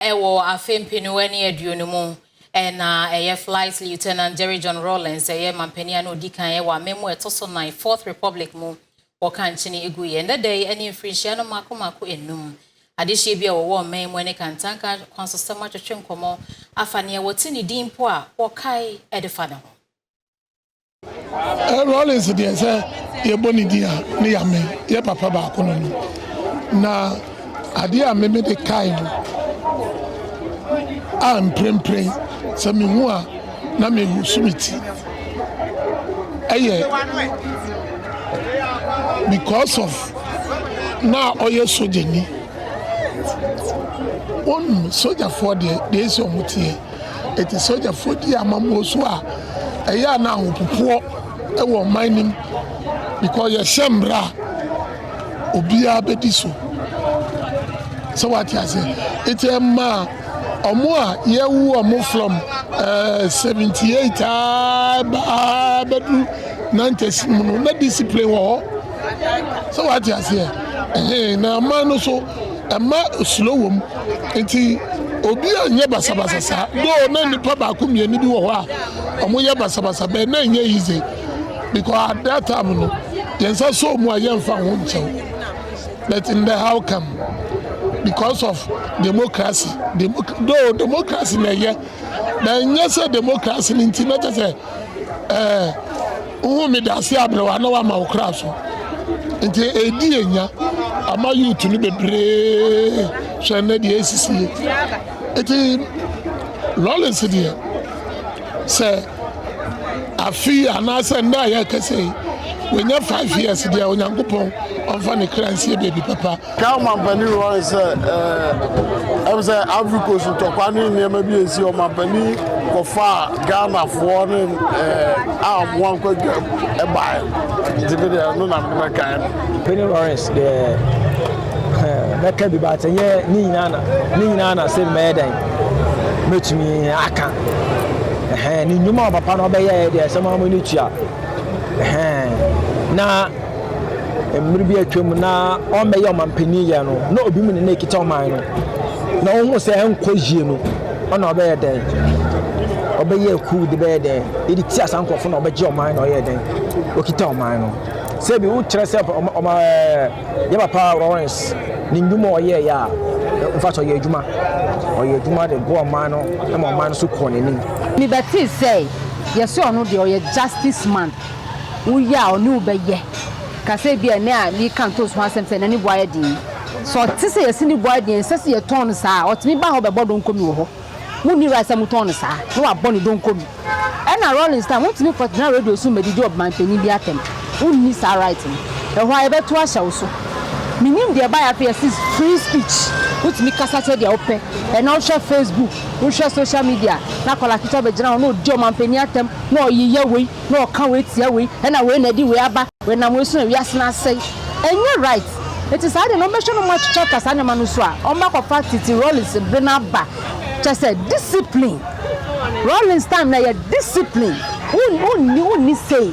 Wɔ afe mpenu ne aduonu mu, na ɛyɛ Flight Lieutenant Jerry John Rawlings yɛ manpanin a na odi kan wɔ amemmu a ɛto so nan, Fourth Republic, mu. Wɔka nkyene guiɛ. Ɛnnɛ da yi, ɛne mfirinhyia no mmaako mmaako nnum. Adehyeɛ bi a wɔwɔ ɔman mu ne kantanka akwansosɛm atwetwe nkɔmmɔ afa nea wɔte ne din mpo a wɔkae de fa ne ho. Rawlings deɛ sɛ yɛbɔ ne din a ne yame yɛ papa baako no no na adeɛ a meme de kae no a mprempren sɛ mehu a na mehu so me ti ɛyɛ because of na ɔyɛ sogyani wɔn sogyafoɔ deɛ deɛ ɛsɛ wɔn teɛ Enti sogyafoɔ dii amammuo so a ɛyɛ a na ahopopoɔ wɔ ɔman no mu because yɛhyɛ mmara a obiara bɛdi so sɛ wate aseɛ nti ɛmaa ɔmo a yɛwu ɔmo from uh, eh, 78 a baa bɛdu 90s mu no na discipline wɔ hɔ sɛ wate aseɛ ɛhɛn na aman no so Ɛmma osuro wɔ mu. Nti obi anyɛ basabasa saa. Though na nipa baako mmienu bi wɔ hɔ a wɔn yɛ basabasa bɛn na ɛnyɛ yize because at that time no yɛn nsa sɔ mu a yɛn nfa ho nkyɛw. But in the how come because of democracy demo though democracy na ɛyɛ na ɛnyɛ sɛ democracy no nti na kyɛ sɛ ɛɛ. Wohu me dase aberewa na wama wo kra so. Nti ɛdi enya ama youth no bebree hwɛ nnɛ deɛ ɛsisie. Nti Rollins deɛ sɛ afi anaasɛ nnɛ a yɛrekasa yi wɔnya five years deɛ Onyankopɔn ɔmfa ne kra nsie baabi papa. Kaa ɔmampanin Roy sɛ, Ɛm sɛ Ivory Coast ntɔkwa ne nneɛma bi a ɛsi ɔmampanin kɔfaa Ghanafoɔ ne a wɔn ankɔ adwam baeɛ nti me deɛ ɛno na mebɛkae no. Penny Lawrence deɛ mɛka bi baate nyɛ ne nyinaa na ne nyinaa na sɛ mɛyɛ dɛn mɛtumi aka ne nnwuma a papa no ɔbɛyɛɛ deɛ ɛsɛ ma mo ani tua na Mmere bi a atwam na ɔmmɛyɛ ɔmanpanyin yɛ no, na obi mu ne na ekita ɔman no. Na ohun sɛ ɛnkɔ yie no, ɔna ɔbɛyɛ dɛn? Ɔbɛyɛ akuw de bɛyɛ dɛn? Edi tia saa nkurɔfo na ɔbɛgye ɔman na ɔyɛ dɛn? Okita ɔman no. Sɛ bi wokyerɛ sɛ ɔma ɔma ɛɛ yɛ papa Lawrence ne nnwuma a ɔyɛ yɛ a, nfa so ɔyɛ adwuma. Ɔyɛ adwuma de boa ɔman no ma ɔman no so kɔɔ n'anim. Mebɛtee sɛ yɛse ɔno deɛ ɔyɛ justice man. wo yɛ a ɔne wo bɛyɛ. Ka sɛ ebia ɛnɛ a mereka ntoosi ho asɛm sɛ ɛnɛ ne bo ayɛ den yi, sɛ ɔte sɛ yɛse ne bo ayɛ den a, ɛnsɛ sɛ yɛtɔn no saa. Ɔtumi ba ha ɔbɛbɔ donko bi wɔ hɔ, wonni right sɛ motɔn no saa na wabɔ ne donko bi. Ɛna Rawlings time, wontumi nkɔtena radio so mmɛdidi ɔmanpanyin bi atɛm, wonni saa right no. Ɛhɔ ara yɛbɛtow ahyɛ wo so. Mennim deɛ ɛbaeɛ afei, yɛse free speech, wotumi kasa kyerɛ deɛ wopɛ. Ɛnɛ wohwɛ Facebook, Wohwɛ social media a, na akwadaa ketewa bɛgyina hɔ na ɔdi ɔmanpanin atɛm, na ɔyeyɛ wei, na ɔka wei tia wei, ɛna wei na ɛde wei aba, ɛnam wei so na wiase no asɛe. Ɛnyɛ right. Nti saa deɛ no, wɔbɛhwɛ na wɔakyakya saa nneɛma no so a, wɔbɛakɔfa tete Rawlings bere no aba. Kyerɛ sɛ, discipline. Rawlings time no, ɛyɛ discipline. Wonni, wonni sei.